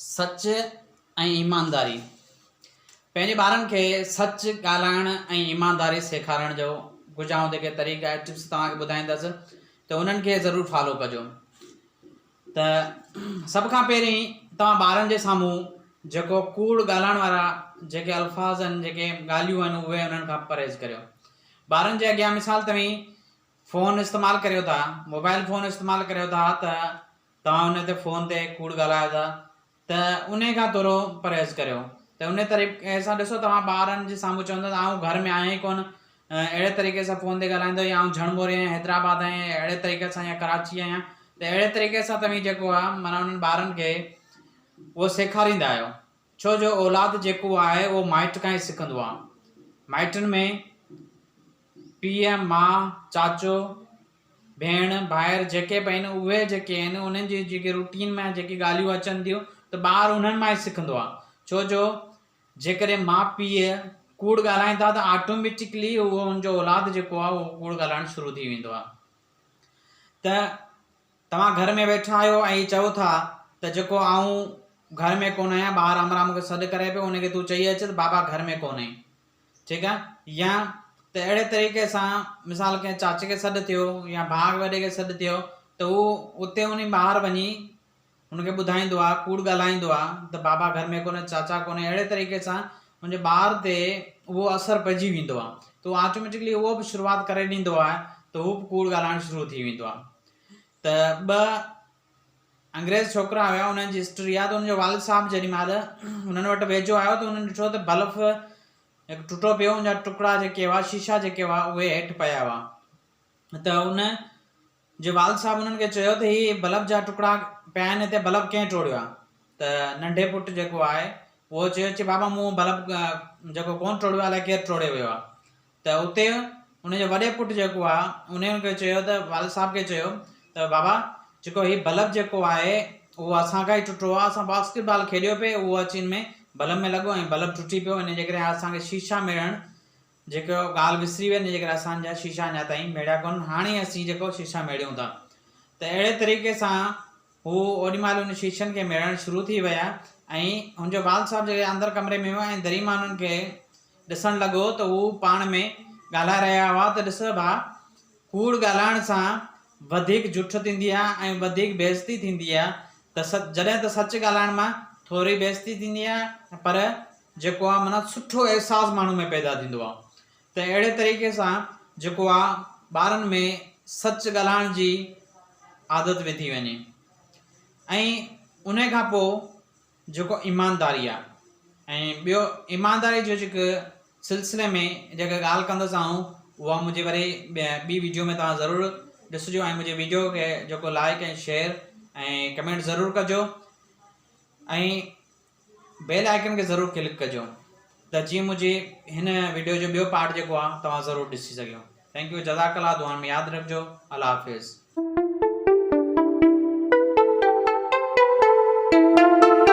سچ ۽ ايمانداري، پنهنجي ٻارن کي سچ ڳالهائڻ ۽ ايمانداري سيکارڻ جو ڪجهه آئون جيڪي طريقا ۽ ٽپس توهان کي ٻڌائيندس ته انهن کي ضرور فالو ڪجو ته سڀ کان پهرين توهان ٻارن جي سامهون جيڪو ڪوڙ ڳالهائڻ وارا جيڪي الفاظ آهن جيڪي ڳالهيون آهن اهي انهن کان پرهيز ڪريو ٻارن جي اڳيان مثال توهين فون استعمال ڪريو ٿا موبائل فون استعمال ڪريو ٿا ته توهان انهي تي فون تي ڪوڙ ڳالهايو ٿا ته انهي کان ٿورو پرهيز ڪريو ته انهي طريقي سان ڏسو توهان ٻارن جي سامهون چوندو ته آئون گهر ۾ آهيان ئي ڪونه اهڙي طريقي سان فون تي ڳالهائيندو يا آئون جهڙ موري آهيان حيدرآباد آهيان يا اهڙي طريقي سان يا ڪراچي آهيان ته اهڙي طريقي سان توهين جيڪو آهي معنيٰ انهن ٻارن کي اهو سيکاريندا آهيو ڇو جو اولاد جيڪو آهي اهو مائٽ کان ئي سکندو آهي مائٽن ۾ پيء، ماء، چاچو، ڀيڻ، ڀائر جيڪي به آهن اهي جيڪي آهن انهن جي جيڪي روٽين ۾ جيڪي ڳالهيون اچن ٿيون ته ٻار انهن مان ئي سکندو آهي ڇو جو جيڪڏهن ماء پيء ڪوڙ ڳالهائين ٿا ته آٽوميٽڪلي اهو ان جو اولاد جيڪو آهي اهو ڪوڙ ڳالهائڻ شروع ٿي ويندو آهي ته توهان گهر ۾ ويٺا آهيو ۽ هي چئو ٿا ته جيڪو آئون گهر ۾ ڪونه آهيان ٻاهر امرا مون کي سڏ ڪري پيو ان کي تون چئي اچ ته بابا گهر ۾ ڪونهي ٺيڪ آهي يا ته اهڙي طريقي سان مثال ڪنهن چاچي کي سڏ ٿيو يا ڀاء وڏي کي سڏ ٿيو ته هو اتي وڃي ٻاهر وڃي ان کي ٻڌائيندو آهي ڪوڙ ڳالهائيندو آهي ته بابا گهر ۾ ڪونهي چاچا ڪونهي اهڙي طريقي سان ان جي ٻار تي اهو اثر پئجي ويندو آهي ته آٽوميٽڪلي اهو به شروعات ڪري ڏيندو آهي ته هو به ڪوڙ ڳالهائڻ شروع ٿي ويندو آهي ته ٻه انگريز ڇوڪرا هيا، انهن جي هسٽري آ ته انهن جو والد صاحب جيڏي مهل انهن وٽ ويجهو آيو ته انهن ڏٺو ته بلف هڪ ٽٽو پيو ان جا ٽڪڙا جيڪي هئا شيشا جيڪي هئا اهي هيٺ پيا هئا ته ان جي والد صاحب انهن کي چيو ته هي بلف جا ٽڪڙا پيا آهن هتي بلف ڪنهن ٽوڙيو آ ته ننڍي پٽ جيڪو آهي اهو چيو چي بابا مون بلف جيڪو ڪون ٽوڙيو آ الائي ڪير ٽوڙي ويو آ ته اتي ان جو وڏي پٽ جيڪو آ انهي ان کي چيو ته والد صاحب کي چيو ته بابا جيڪو هي بلب جيڪو آهي اهو اسان کان ئي ٽٽو آ اسان باسڪيٽ بال کيڏيو پي اهو اچي ان ۾ بلب ۾ لڳو ۽ بلب ٽٽي پيو ان جي ڪري اسان کي شيشا ميڙڻ جيڪو ڳالهه وسري وئي ان جي ڪري اسان جا شيشا اڃا تائين ميڙيا ڪونهن هاڻي اسين جيڪو شيشا ميڙيون ٿا ته اهڙي طريقي سان هو اوڏي مهل ان شيشن کي ميڙڻ شروع ٿي ويا ۽ هن جو والد صاحب جڏهن اندر ڪمري ۾ هو ۽ دري مان انهن کي ڏسڻ لڳو ته هو پاڻ ۾ ڳالهائي رهيا هئا ته ڏس ڀاء، ڪوڙ ڳالهائڻ سان وڌيڪ جٺ ٿيندي آهي ۽ وڌيڪ بي عزتي ٿيندي آهي ته جڏهن ته سچ ڳالهائڻ مان ٿوري بي عزتي ٿيندي آهي پر جيڪو آهي معنيٰ سٺو احساس ماڻهو ۾ پيدا ٿيندو آهي ته اهڙي طريقي سان جيڪو آ ٻارن ۾ سچ ڳالهائڻ جي عادت وڌي وڃي ۽ انهي کان پوء جيڪو ايمانداري آ ۽ ٻيو ايمانداري جو جيڪو سلسلي ۾ جيڪا ڳالهه ڪندس آئون اها منهنجي وري ٻي ويڊيو ۾ توهان ضرور ڏسجو ۽ منهنجي ويڊيو کي جيڪو لائڪ ۽ شيئر ۽ ڪمينٽ ضرور ڪجو ۽ بيل آئيڪن کي ضرور ڪلڪ ڪجو ته جيئن منهنجي هن ويڊيو جو ٻيو پارٽ جيڪو آ توهان ضرور ڏسي سگهيو ٿينڪ يو جزاڪ الله دعائن ۾ ياد رکجو الله حافظ.